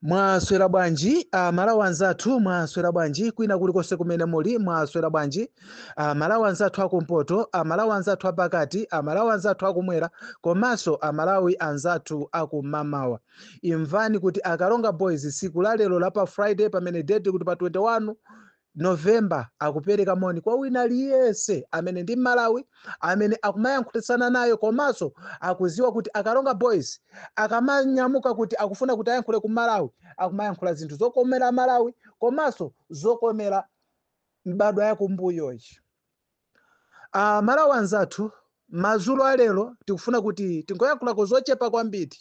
Mwaswera bwanji amalawi anzathu, mwaswera bwanji kwina kulikonse kumene muli, mwaswera bwanji amalawi anzathu akumpoto, amalawi anzathu apakati, amalawi anzathu akumwera komanso amalawi anzathu akumamawa. Imvani kuti Akalonga Boys tsiku la lero la pa Friday pamene date kuti pa 21 November akupeleka moni kwa wina aliyense amene ndi Mmalawi amene akumayankhulitsana nayo komanso akuziwa kuti Akalonga Boys akamanyamuka kuti akufuna kuti ayankhule ku Malawi akumayankhula zinthu zokomela Malawi komanso zokomela mbadwa yakumbuyoyi. A Malawi anzathu, madzulo a lero tikufuna kuti tingoyankhulako zochepa kwambiri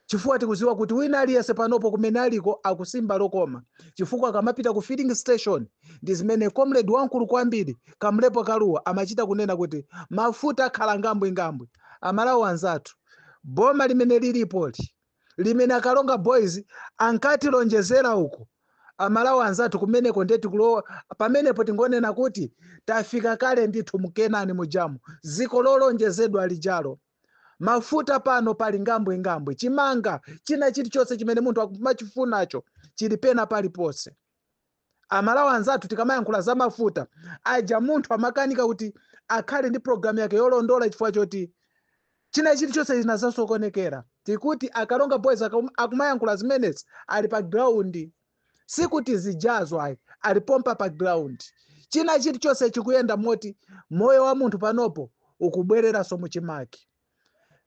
chifukwa tikudziwa kuti wina aliyense panopo kumene aliko akusimba lokoma chifukwa akamapita ku filling station ndi zimene comrade wamkulu kwambiri Kamlepo Kaluwa amachita kunena kuti mafuta akhala ngambwingambwi. A Malawi anzathu, boma limene lilipoli limene Akalonga Boys ankatilonjezera uku. A Malawi anzathu kumeneko ndiye tikulowa pamenepo tingonena kuti tafika kale ndithu mu Kenani mujamu, dziko lolonjezedwa lijalo. Mafuta pano pali ngambwingambwi, chimanga, china chilichonse chimene munthu akumachifunacho chili pena paliponse. Amalawi anzathu tikamayankhula za mafuta aja munthu amakanika kuti akhale ndi program yake yolondola chifukwa choti china chilichonse chinazasokonekera tikuti Akalonga Boys akum- akumayankhula zimenezi ali pa ground sikuti zijazo ayi ali pompa pa ground china chilichonse chikuyenda moti moyo wa munthu panopo ukubwereranso muchimake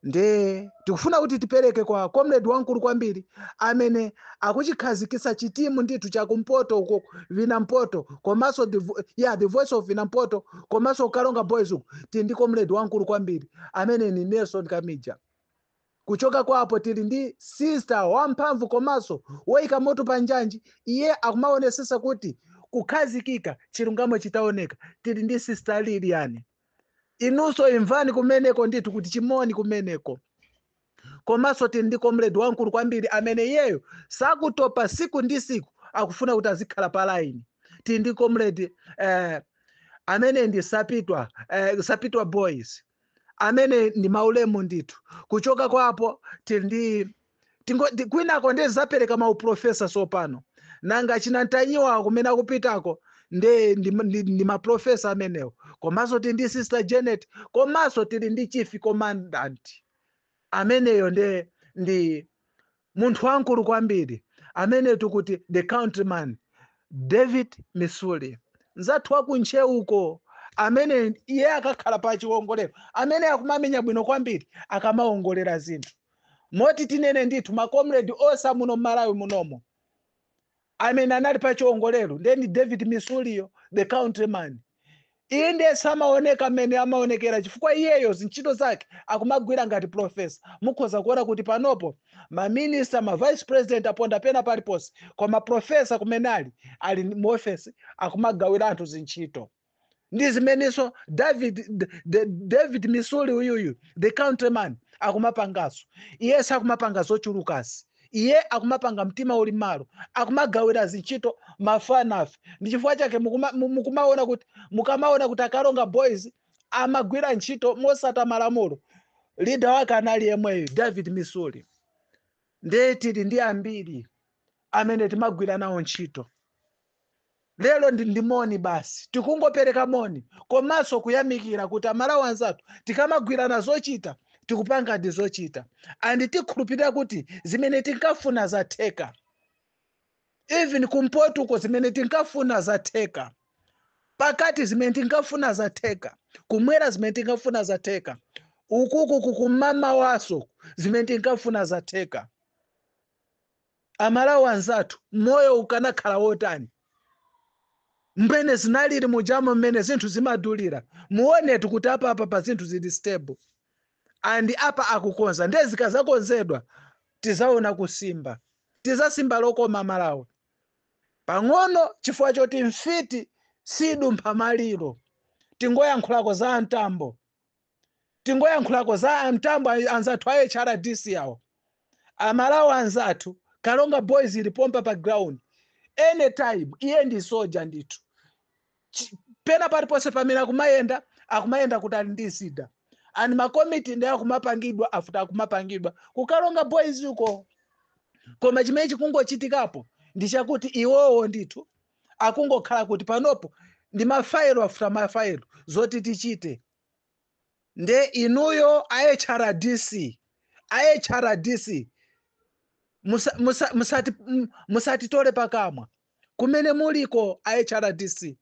nde tikufuna kuti tipereke kwa comrade wamkulu kwambiri amene akuchikhazikitsa chitimu ndithu chakumpoto uko vina mpoto komanso the, vo- yeah, the voice of vina mpoto komanso Akalonga Boys uko tili ndi comrade wamkulu kwambiri amene ni Nelson Kamija kuchoka kwapo tili ndi sister wamphamvu komanso woyika moto pa njanji iye akumaonesesa kuti kukhazikika chilungamo chitaoneka tili ndi sister Lilian inunso imvani kumeneko ndithu kuti chimoni kumeneko komanso tili ndi comrade wamkulu kwambiri amene iyeyo sakutopa siku ndi siku akufuna kuti azikhala pa line tili ndi comrade eh, amene ndi sapitwa eh, sapitwa boys amene ndi maulemu ndithu kuchoka kwapo tili ndi Tili ndi- kwinako nde zapereka ma uprofessor sopano. Nanga achina Ntanyiwa kumene akupitako nde ndi, ndi, ndi ma professor amenewo. Komanso tili ndi Sister Janet, komanso tili ndi Chief Commandant. Ameneyo nde ndi munthu wankulu kwambiri amene tikuti the countryman David Misuli mzathu wa ku Ntcheuko amene iye akakhala pa chiwongolero amene akumamenya bwino kwambiri akamawongolera zinthu moti tinene ndithu ma comrade onse amuno mmalawi munomo amene anali pa chiwongolero nde ndi david misuliyo the countryman iye ndiye samaoneka mmene amaonekera chifukwa iyeyo zintchito zake akumagwira ngati profesa mukhoza kuona kuti panopo maminista ma vice president aponda pena paliponse koma profesa kumene ali ali mu ofesi akumagawira anthu zintchito ndi zimenenso david D- D- david misuli uyuyu the countryman akumapangaso iye sakumapanga zochulukazi iye akumapanga mtima uli mmalo akumagawira zintchito mafanafe ndi chifukwa chake mukuma- mu- mukumaona kuti mukamaona kuti akalonga boys amagwira ntchito mosata malamulo lida wake anali yemweyo david misuli ndiye tili ndi ambiri amene timagwira nawo ntchito lero ndi ndi moni basi tikungopereka moni komanso kuyamikira kuti amalawi anzathu tikamagwirana zochita tikupanga ndi zochita and tikhulupirira kuti zimene tinkafuna zatheka even kumpotuko zimene tinkafuna zatheka pakati zimene tinkafuna zatheka kumwera zimene tinkafuna zatheka ukuku kummawaso zimene tinkafuna zatheka A Malawi anzathu moyo ukanakhala wotani mmene zinalili mujamo mmene zinthu zimadulira muonetu kuti apapa pa zinthu zili stable and apa akukonza ndiye zikazakonzedwa tizaona kusimba tizasimba lokoma aMalawi pang'ono chifukwa choti mfiti sidumpha maliro tingoyankhulako za amtambo tingoyankhulako za amtambo a- anzathu a hrdc awo amalawi anzathu kalonga boys ili pompa pa ground anytime iye ndi soja ndithu Chi- pena paliponse pamene akumayenda akumayenda kuti ali ndi zida and makomiti nde akumapangidwa afuta akumapangidwa kukalonga boys uko koma chimene chikungochitikapo ndi chakuti iwowo ndithu akungokhala kuti panopo ndi mafayilo afuta mafayilo zoti tichite nde inuyo a hrdc a hrdc musa- musa- musati- m- musatitole pakamwa kumene muliko a hrdc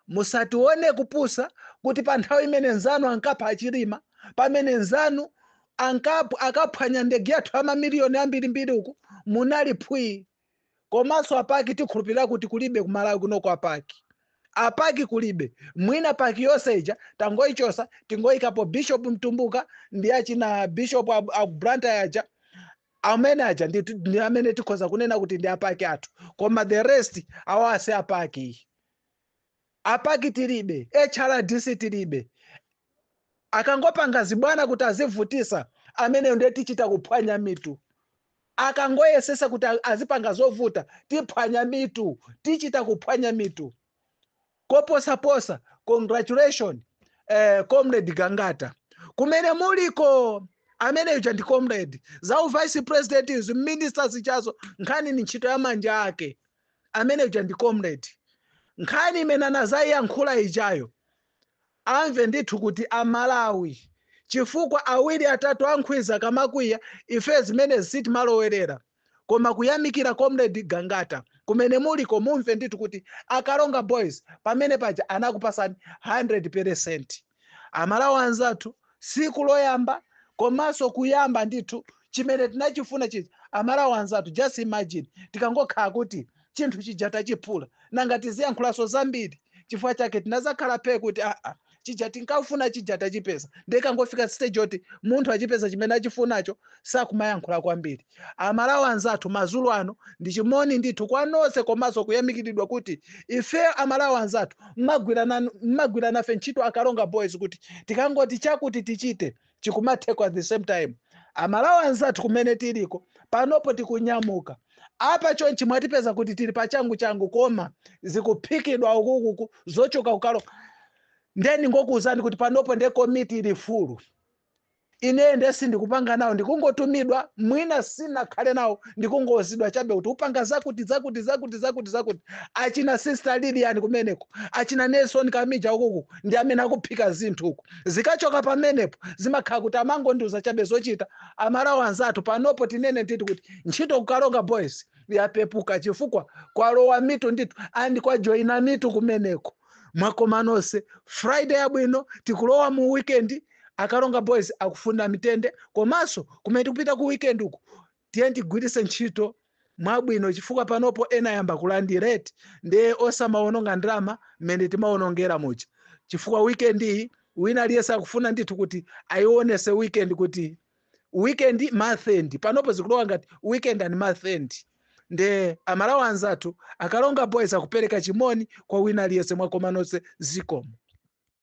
musatione kupusa kuti pa nthawi imene nzanu ankapha achilima pamene nzanu ankapu ankaphwanya ndege yathu ya mamiliyoni ambirimbiri uku munali phwii komanso apaki tikhulupirira kuti kulibe kumalawi kunoko apaki apaki kulibe mwina paki yonse ija tingoichosa tingoikapo bishop mtumbuka ndi achina bishop a, a blantyre aja amene aja ndi, ndi amene tikhoza kunena kuti ndi apaki athu koma the rest awa si apaki apa key tilibe, hrdc tilibe, akangopanga zibwana kuti azivutisa ameneyo ndiye tichita kuphwanya mitu, akangoyesesa kuti azipanga zovuta tiphwanya mitu, tichita kuphwanya mitu koposaposa. Congratulation eh, comrade Gangata kumene muliko amene uja ndi comrade za u vice president izi minister zichazo nkhani ni ntchito ya manja ake Amene uja ndi comrade. Nkhani imene anazaiyankhula ijayo amve ndithu kuti a Malawi chifukwa awiri atatu a nkhwidzi akamakwiya ife zimenezi sitimalowerera koma kuyamikira comrade Gangata kumene muliko mumve ndithu kuti a Karonga boys pamene paja anakupasani 100 pelesenti. amalawi anzathu siku loyamba komanso kuyamba ndithu chimene tinachifuna chija amalawi anzathu just imagine tikangokhala kuti chinthu chija tachiphula nanga tiziyankhulanso zambiri chifukwa chake tinazakhala phe kuti aa chija tinkafuna chija tachipeza nde ikangofika stage yoti munthu achipeza chimene achifunacho sakumayankhula kwambiri Amalawi anzathu madzulo ano ndi chimoni ndithu kwa nonse komaso kuyamikiridwa kuti ife amalawi anzathu mmagwira nafe ntchito akaronga boys kuti tikangoti chakuti tichite chikumatheka at the same time amalawi anzathu kumene tiliko panopo tikunyamuka apa chonchi mwatipeza kuti tili pa changu changu koma zikuphikidwa ukukuku zochoka kukaronga nde ndingokuuzani kuti panopo nde komiti ili fulu ineyo ndiye sindikupanga nawo ndikungotumidwa mwina sinakhale nawo ndikungouzidwa chabe kuti upanga zakuti zakuti zakuti zakuti zakuti achina sister lilian kumeneko achina nelson kamija ukuku ndi amene akuphika zinthu uku zikachoka pamenepo zimakhala kuti amangondiuza chabe zochita amalawi anzathu panopo tinene ndithu kuti ntchito kukaronga boys yapepuka chifukwa kwalowa mitu ndithu and kwajoyina mitu kumeneko mwakoma nonse friday yabwino tikulowa mu weekend Akaronga Boys akufuna mtendere komanso kumene tikupita ku weekend uku tiyeni tigwiritse ntchito mwabwino chifukwa panopo ena ayamba kulandiratu ndiye osamawononga ndalama mmene timawonongera muja chifukwa weekend iyi wina aliyense akufuna ndithu kuti ayionese weekend kuti weekend month end panopo zikulowa ngati weekend and month end nde amalawi anzathu akaronga boys akupereka chimoni kwa wina aliyense mwakoma nonse zikomo